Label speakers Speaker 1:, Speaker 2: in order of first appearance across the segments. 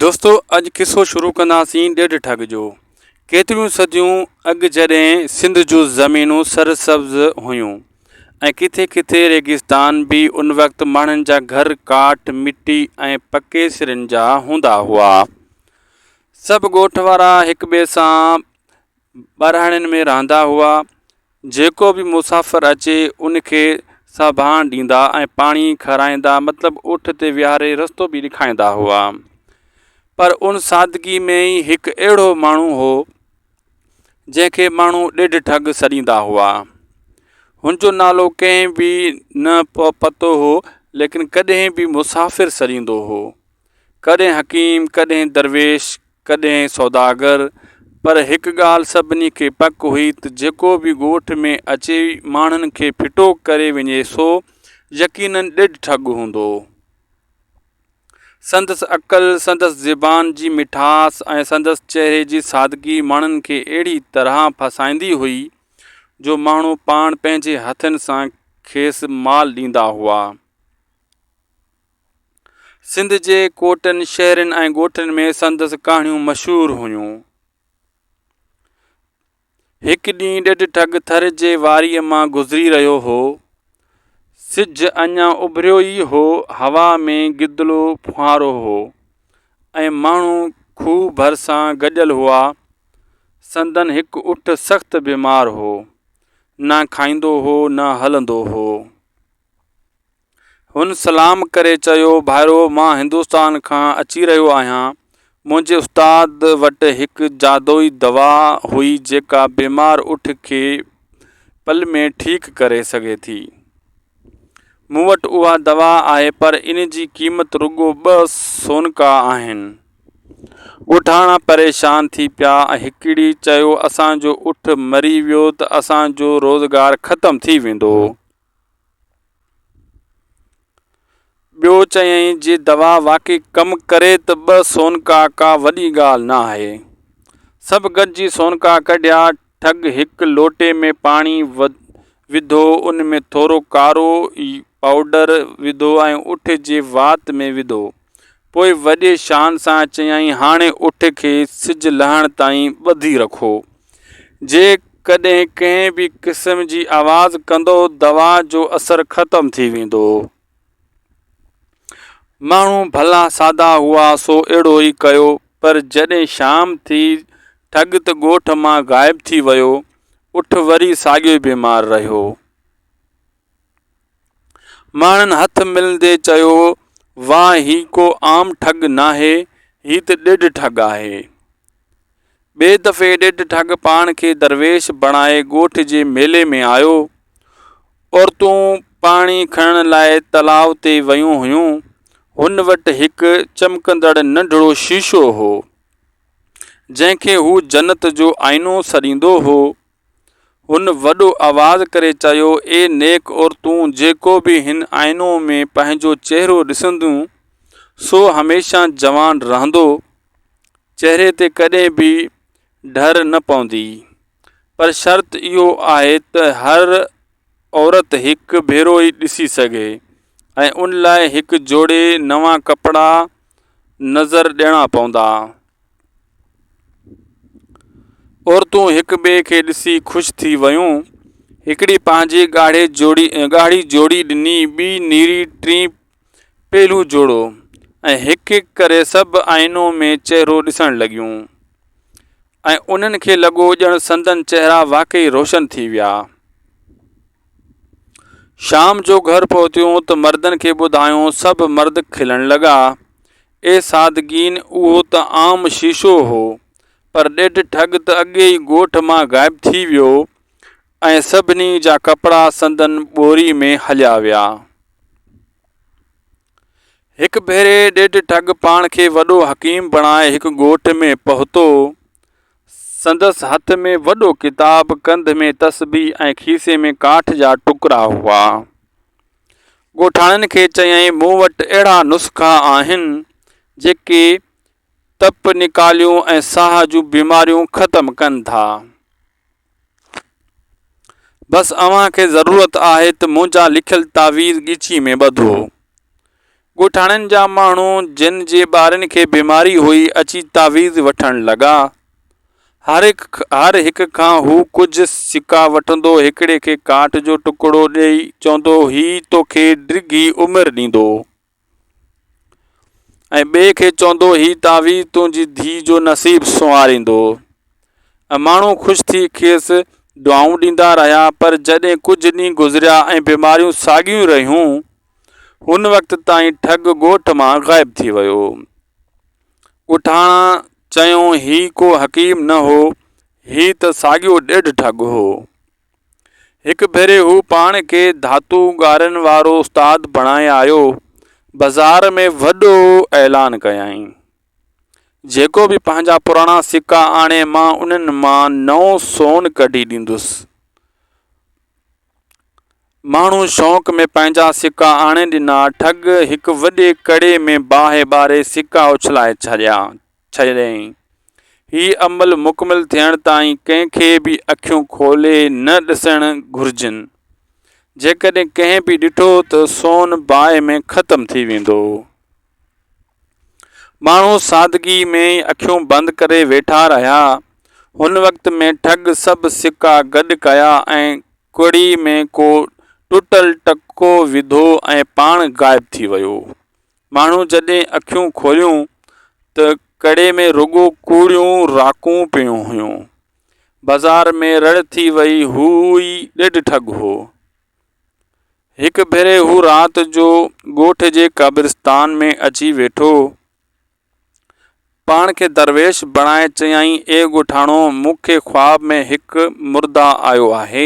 Speaker 1: دوستو اڄ قصو شروع ڪنداسين ڏيڍ ٺڳ جو. ڪيتريون صديون اڳ جڏهن سنڌ جون زمينون سر سبز هيون ۽ ڪٿي ڪٿي ريگستان به ان وقت ماڻهن جا گهر ڪاٺ مٽي ۽ پڪي سرن جا هوندا هئا. سڀ ڳوٺ وارا هڪ ٻئي سان ٻهراڙين ۾ رهندا هئا جيڪو به مسافر اچي ان کي ساڀاڻ ڏيندا ۽ پاڻي کارائيندا مطلب اٺ تي ويهاري رستو به ڏيکاريندا هئا پر ان سادگي ۾ ئي هڪ اهڙو ماڻهو هو جنهن کي ماڻهو ڏيڍ ٺڳ سڏيندا هئا هن جو نالو ڪنهن به نه پتو هو ليڪن ڪڏهن به مسافر سڏيندو هو ڪڏهن حڪيم ڪڏهن درويش ڪڏهن سوداگر، پر هڪ ڳالهه سڀني کي پڪ هئي ته جيڪو به ڳوٺ ۾ اچي ماڻهن کي ڦٽو ڪري وڃي سو يقينن ڏڍ ٺڳ هوندو. سندس عقل، سندس زبان جي مٺاس ۽ سندس چهري جي سادگي ماڻهن کي اهڙي طرح ڦاسائيندي هئي جو ماڻهو پاڻ پنهنجي هٿن سان کيس مال ڏيندا هئا. سنڌ جي ڪوٽن، شهرن ۽ ڳوٺن ۾ سندس ڪهاڻيون مشهور هيون. هڪ ڏينهن ڏڍ ٺڳ ٿر جي واريء مان گذري رهيو هو. سج اڃا اڀريو ئي هو، هوا ۾ گدلو ڦوهارو هو ۽ ماڻهو کوهه ڀرسان گڏيل هئا. سندن هڪ اٺ سخت بيمار هو. نه کائيندو هو، نه هلندو هو. هن سلام ڪري چيو، ڀائرو! مان هندوستان کان اچي رهيو آهيان. منهنجي استاد وٽ هڪ جادوئي دوا هئي جيڪا بيمار اٺ کي پل ۾ ٺيڪ ڪري سگهي ٿي. مون وٽ اها دوا آهي پر ان جي قيمت رڳو ٻه سونڪا آهن. ڳوٺاڻا پريشان ٿي پيا ۽ هڪڙي چيو، اسان جو اٺ مري ويو ته اسان جو روزگار ختم ٿي ويندو. ٻيو چيائين جي دوا واقعي ڪم ڪري ته ٻه سونڪا ڪا وڏي ڳالهه نه آهي. سڀ گڏجي سونڪا ڪڍيا، ٺڳ هڪ لوٽي ۾ پاڻي وڌو ان ۾ ٿورو ڪارو پائوڊر وڌو ۽ اٺ جي وات ۾ وڌو. پوء وڏي شان سان چيائين، هاڻي اٺ کي سج لهڻ تائين ٻڌي رکو. جيڪڏهن ڪنهن به قسم جي آواز ڪندو، دوا جو اثر ختم ٿي ويندو. ماڻهو ڀلا سادا هئا، سو اهڙو ئي ڪيو، پر جڏهن شام ٿي، ٺڳت ڳوٺ مان غائب ٿي ويو، اٺ وري ساڳيو ئي بيمار رهيو. ماڻهن هٿ ملندي چيو، واه هي ڪو عام ٺڳ ناهي، هي ته ڏڍ ٺڳ آهي. ٻئي دفعي ڏڍ ٺڳ پاڻ کي درويش بڻائي ڳوٺ جي ميلي ۾ آيو. عورتون پاڻي کڻڻ لاء تلاء تي ويون هيون. هن وٽ هڪ چمڪندڙ ننڍڙو شيشو هو، جنهن کي هو جنت جو آئينو سڏيندو هو. هن وڏو آواز ڪري چيو، اي نيڪ عورتون! جيڪو به هن آئينو ۾ پنهنجو چهرو ڏسنديون، سو هميشه جوان رهندو. چهري تي ڪڏهن به ڍر نه پوندي. پر شرط اهو آهي ته هر عورت هڪ ڀيرو ئي ڏسي سگهي ۽ ان لاء هڪ جوڙي نوان ڪپڙا نظر ڏيڻا پوندا. عورتون هڪ ٻئي کي ڏسي خوش ٿي ويون هڪڙي پنهنجي ڳاڙهي جوڙي ڳاڙهي جوڙي ڏني ٻي نيري ٽي پيلو جوڙو ۽ هڪ هڪ ڪري سڀ آئينو ۾ چهرو ڏسڻ لڳيون ۽ انهن کي لڳو ڄڻ سندن چهرا واقعي روشن ٿي ويا شام جو گهر پهتيون ته مردن کي ٻڌايون سڀ مرد کلڻ لڳا اي سادگين اهو ته عام شيشو هو، پر ڏيڍ ٺڳ ته اڳي ئي ڳوٺ مان غائب ٿي ويو ۽ سڀني جا ڪپڙا سندن ٻوري ۾ هليا ويا. هڪ ڀيري ڏيڍ ٺڳ پاڻ کي وڏو حڪيم بڻائي هڪ ڳوٺ ۾ پهتو. سندس هٿ ۾ وڏو ڪتاب، ڪنڌ ۾ تسبيح ۽ کيسي ۾ ڪاٺ جا ٽڪرا هئا. ڳوٺاڻن کي چيائين، مون وٽ اهڙا نسخا آهن، جيڪي تپ نڪاليون ۽ ساهه جون بيماريون ختم ڪن ٿا. بس اوهان کي ضرورت آهي ته منهنجا لکيل تعويذ ڳچيء ۾ ٻڌو. ڳوٺاڻن جا ماڻهو جن جي ٻارن کي بيماري هئي اچي تعويذ وٺڻ لڳا. هر هر هڪ کان هو ڪجهه سڪا وٺندو هڪڙي کي ڪاٺ جو ٽڪڙو ڏئي چوندو هي توکي ڊگهي عمر ڏيندو ۽ ٻئي کي چوندو هي تعويذ تنهنجي ڌي جو نصيب سنواريندو ۽ ماڻهو خوش ٿي کيس دعائون ڏيندا رهيا پر جڏهن ڪجهه ڏينهن گذريا ۽ بيماريون ساڳيون رهيون هن وقت تائين ٺڳ ڳوٺ مان غائب ٿي ويو. ڳوٺاڻا چيون هي ڪو حڪيم نه هو، هي ته ساڳيو ڏيڍ ٺڳ هو. هڪ ڀيري هو پاڻ کي ڌاتو ڳارين وارو استاد بڻائي آيو، بازار ۾ وڏو اعلان ڪيائين. جيڪو به پنهنجا پراڻا سڪا آڻي مان انهن مان نئون سون ڪڍي ڏيندس. ماڻهو شوق ۾ پنهنجا سڪا آڻي ڏنا. ٺڳ هڪ وڏي ڪڙي ۾ باهه ٻاري سڪا اڇلائي ڇڏيا ڇڏيائين. هي عمل مڪمل ٿيڻ تائين ڪنهن کي به اکيون کولي نه ڏسڻ گهرجن. جيڪڏهن ڪنهن به ڏٺو ته سون باهه ۾ ختم ٿي ويندو. ماڻهو سادگي ۾ اکيون بند ڪري ويٺا رهيا هن وقت ۾ ٺڳ سڀ سڪا گڏ ڪيا ۽ ڪڙي ۾ ڪو ٽٽل ٽڪو وڌو ۽ پاڻ غائب ٿي ويو ماڻهو جڏهن اکيون کوليون ته ڪڙي ۾ رڳو ڪوڙيون راڪون پيون هيون بازار ۾ رڙ ٿي وئي هو ئي ڏيڍ ٺڳ هو هڪ ڀيري هو رات جو ڳوٺ جي قبرستان ۾ اچي ويٺو. پاڻ کي درويش بڻائي چيائين اي ڳوٺاڻو مون کي خواب ۾ هڪ مرده آيو آهي.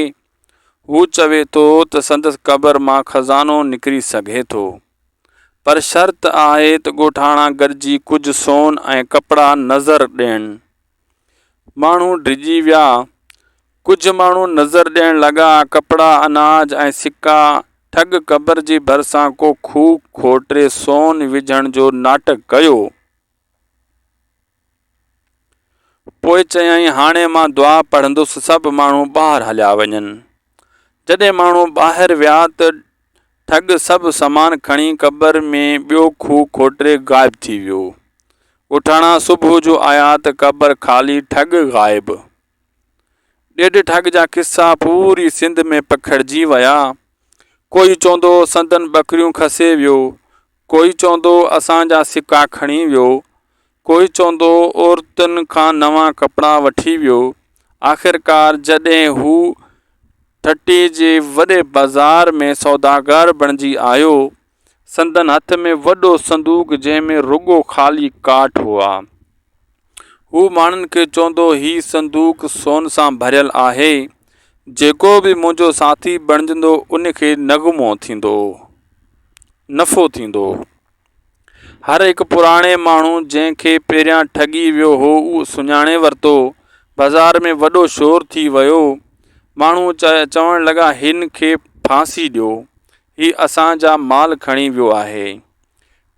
Speaker 1: هو چوي ٿو ته سندس قبر مان خزانو نڪري سگهي ٿو. پر شرط آهي ته ڳوٺاڻا گڏجي ڪجهه سون ۽ ڪپڙا نذر ڏين. ماڻهو ڊڄي ويا. ڪجهه ماڻهو نظر ڏيڻ لڳا. ڪپڙا، اناج ۽ سڪا ٺڳ قبر جي ڀرسان ڪو کوهه کوٽري سون وجهڻ جو ناٽڪ ڪيو. پوء چيائين، هاڻي مان دعا پڙهندس، سڀ ماڻهو ٻاهر هليا وڃن. جڏهن ماڻهو ٻاهر ويا ته ٺڳ سڀ سامان کڻي قبر ۾ ٻيو کوهه کوٽري غائب ٿي ويو. ڳوٺاڻا صبح جو آيا ته قبر خالي ٺڳ غائب. ڏيڍ ٺڳ جا قصا پوري سنڌ ۾ پکڙجي ويا. ڪوئي چوندو سندن ٻڪريون کسي ويو، ڪوئي چوندو اسان جا سڪا کڻي ويو، ڪوئي چوندو عورتن کان نوان ڪپڙا وٺي ويو. آخرڪار جڏهن هو ٺٽي جي وڏي بازار ۾ سوداگر بڻجي آيو، سندن هٿ ۾ وڏو صندوق جنهن ۾ رڳو خالي ڪارڊ هئا. هو ماڻهن کي چوندو، هي صندوق سون سان ڀريل آهي، جيڪو به منهنجو ساٿي بڻجندو ان کي نغمو ٿيندو، نفعو ٿيندو. هر هڪ پراڻي ماڻهو جنهن کي پهريان ٺڳي ويو هو اهو سڃاڻي ورتو. بازار ۾ وڏو شور ٿي ويو. ماڻهو چوڻ لڳا هن کي ڦاسي ڏيو، هي اسان جا مال کڻي ويو آهي.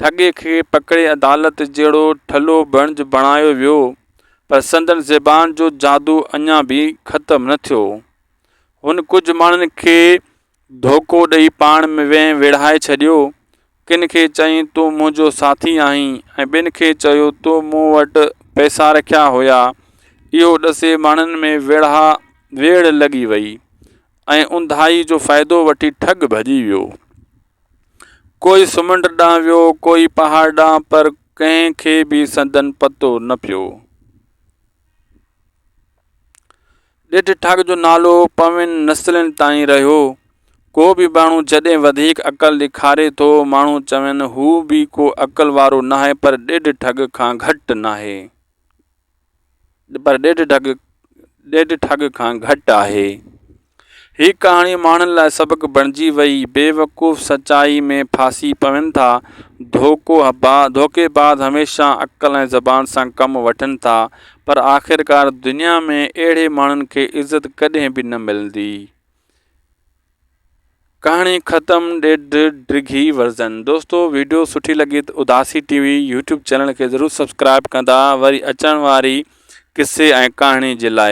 Speaker 1: ٺڳي کي پڪڙي عدالت جهڙو ٺلهو بڻج بڻايو ويو، پر سندن زبان جو جادو اڃا به ختم نه ٿيو. هن ڪجهه ماڻهن کي ڌوڪو ڏئي پاڻ ۾ ويهه ويڙهائي ڇڏيو. ڪن کي چيائين تون منهنجو ساٿي آهين ۽ ٻين کي چيو تو مون وٽ پئسا رکيا هيا. اهو ڏسي ماڻهن ۾ ويڙها ويڙهه لڳي وئي ۽ اونداهي جو فائدو وٺي ٺڳ ڀڄي ويو. ڪوئي سمنڊ ڏانهن ويو، ڪوئي پهاڙ ڏانهن، پر ڪنهن کي به سندن پتو نه پيو. ڏيڍ ٺاڳ جو نالو پوين نسلن تائين رهيو. ڪو به ماڻهو جڏهن وڌيڪ عقل ڏيکاري ٿو، ماڻهو چون هو به ڪو عقل وارو ناهي، پر ڏيڍ ٺڳ کان گهٽ ناهي. پر ڏيڍ ڍڳ ڏيڍ ٺڳ کان گهٽ آهي. هي ڪهاڻي ماڻهن لاء سبق بڻجي وئي. بيوقوف سچائي ۾ ڦاسي پون ٿا. ڌوڪو ڌوڪيباز هميشه عقل ۽ زبان سان ڪم وٺن ٿا. پر آخرڪار دنيا ۾ اهڙي ماڻهن کي عزت ڪڏهن به نه ملندي. ڪهاڻي ختم ڏيڍ ڊگهي ورزن دوستو ويڊيو سٺي لڳي ته Udasi TV YouTube channel کي ضرور سبسڪرائب ڪندا وري اچڻ واري قصي ۽ ڪهاڻي جي لاء